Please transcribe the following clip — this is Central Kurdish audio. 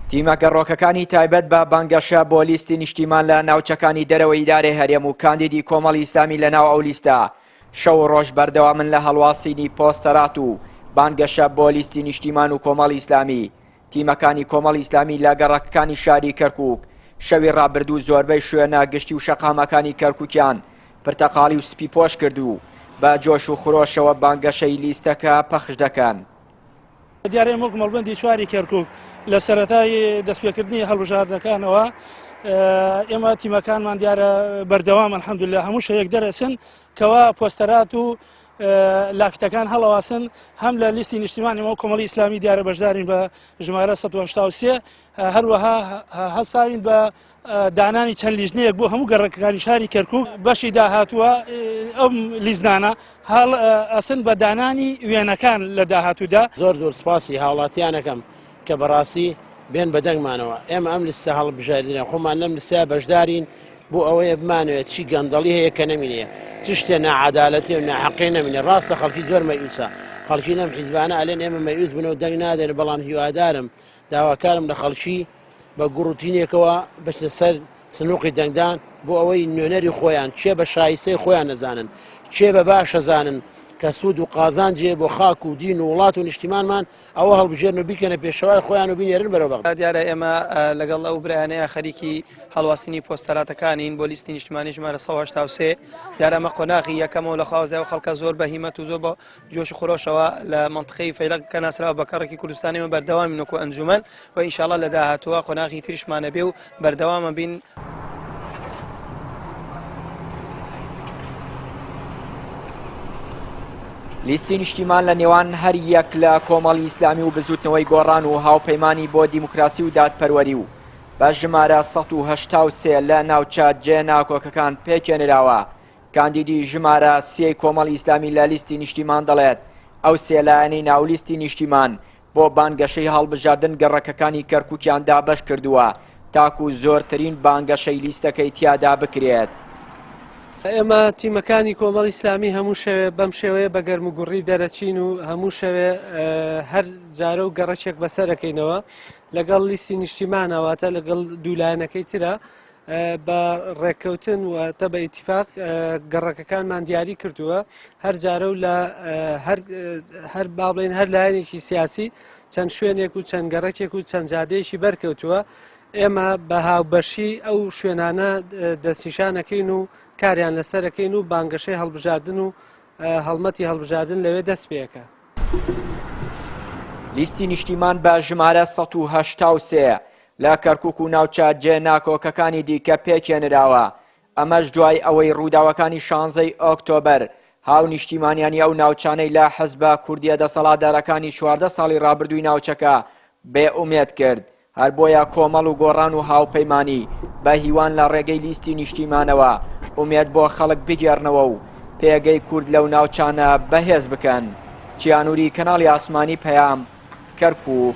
تیمە گەڕۆکەکانی تایبەت بە بانگەشە بۆ لیستی نیشتیمان لە ناوچەکانی دەرەوەی ئیدارەی هەرێم و کاندیدی کۆمەڵی ئیسلامی لە ناو ئەو لیستە شەو و ڕۆژ بەردەوامن لە هەڵواسینی پۆستەرات و بانگەشە بۆ لیستی نیشتیمان و کۆمەڵی ئیسلامی. تیمەکانی کۆمەڵی ئیسلامی لە گەڕەکەکانی شاری کەرکووک شەوی ڕابردوو زۆربەی شوێنە گشتی و شەقامەکانی کەرکووکیان پرتەقاڵی و سپی پۆش کرد و بە جۆش و خرۆشەوە بانگەشەی لیستەکە پەخش دەکەن. دیارەیەم وەک مەڵبەندی چواری کەرکوک لە سەرەتای دەستپێکردنی هەڵبژاردنەکانەوە ئێمە تیمەکانمان دیارە بەردەوام الحەمدلله هەموو شەیەک دەرەچن کەوا پۆستەرات و لافیتەکان هەڵەواسن هەم لە لیستی نیشتیمانیەوە کۆمەڵی ئیسلامی دیارە بەشدارین بە ژمارە 1970 هەروەها هەساین بە دانانی چەند لیژنەیەک بۆ هەموو گەڕەکەکانی شاری کەرکک بەشی داهاتووە ئەم لیزنانە هەڵ ئەسن بە دانانی وێنەکان لە داهاتوودا زۆر زۆر سپاسی هاوڵاتیانەکەم کە بەڕاستی بێن بە دەنگمانەوە ئێمە ئەم لستە هەڵ بژاردنە خۆمان لەم لستا بەشدارین بۆ ئەوەیە بمانوێت چی گەندەڵی هەیە کە نەمینێ چ شتێ نەعادالەتی و ناحەقی نەمینێ ڕاستە خەڵکی زۆر مەیوسە خەڵکی لەم حیزبانە ئەلێن ئێمە مەیوس بنەوە دەنگ نادێن بەڵام هیوادارم داواکارم لە خەڵکی بە گوڕ و تینێکەوە بچنە سەر سنووقی دەنگدان بۆ ئەوەی نوێنەری خۆیان کێ بە شایستەی خۆیان نەزانن، کێ بە باش ئەزانن کە سوود و قازانجێ بۆ خاک و دین و وڵات و نیشتیمانمان، ئەوە هەڵبژێرن و بیکەنە پێشەوای خۆیان و بینێرن بەرەو بەغدا. دیارە ئێمە لەگەڵ ئەو برایانەیا خەریکی هەڵواسینی پۆستەراتەکانین بۆ لیستی نیشتمانی ژمارە سەد و هەشتا و سێ. دیارە ئەمە قۆناغی یەکەمە و لە خوازای ئەو خەڵکە زۆر بە هیمەت و زۆر بە جۆش و خرۆشەوە لە مەنتقەی فەیلەق کە ناسراوە بە کەڕکی کوردستان ئێمە بەردەوامین وەکوو ئەنجوومەن و ان شاء اللە لە داهاتووە قۆناغی تریشمان ئەبێ و بەردەوام ئەبین. لیستی نیشتیمان لە نێوان هەر یەک لە کۆمەڵی ئیسلامی و بزوتنەوەی گۆڕان و هاوپەیمانی بۆ دیموکراسی و دادپەروەری و بە ژمارە ١٨٣ لە ناوچە جێ ناکۆکەکان پێکێنراوە کاندیدی ژمارە سێی کۆمەڵی ئیسلامی لە لیستی نیشتیمان دەڵێت، ئەو سێ لایەنەی ناو لیستی نیشتیمان بۆ بانگەشەی هەڵبژاردن گەڕەکەکانی کەرکوکیان دابەش کردووە تاکو زۆرترین بانگەشەی لیستەکەی تیادا بکرێت. ئێمە تیمەکانی کۆمەڵی ئیسلامی هەموو شەوێ بەم شێوەیە بە گەرموگوڕی دەرەچین و هەموو شەوێ هەر جارە و گەڕەکێک بەسەرەکەینەوە لەگەڵ لیستی نیشتیمانەواتە لەگەڵ دوو لایەنەکەی ترە. بە ڕێککەوتن واتە بە ئیتیفاق گەڕەکەکانمان دیاری کردووە هەر جارە و لە هەر بابلین هەر لایەنێکی سیاسی چەند شوێنێک و چەند گەڕەکێک و چەند جادەیەکی بەرکەوتووە ئێمە بە هاوبەشی ئەو شوێنانە دەستنیشانەکەین و کاریان لەسەرەکەین و بانگەشەی هەڵبژاردن و هەڵمەتی هەڵبژاردن لەوێ دەست پێەکە. لیستی نیشتیمان بە ژمارە ١٨٣ لە کەرکوک و ناوچە جێ ناکۆکەکانی دیکە پێکێنراوە، ئەمەش دوای ئەوەی ڕووداوەکانی شانزەی ئۆکتۆبەر هاونیشتیمانیانی ئەو ناوچانەی لە حزبە کوردیە دەسەڵاتدارەکانی چواردە ساڵی ڕابردووی ناوچەکە بێ ئومێد کرد، هەر بۆیە کۆمەڵ و گۆڕان و هاوپەیمانی بە هیوان لە ڕێگەی لیستی نیشتیمانەوە ئومێد بۆ خەڵک بگێڕنەوە و پێگەی کورد لەو ناوچانە بەهێز بکەن. چیانوری کەناڵی ئاسمانی پەیام. کەرکوک.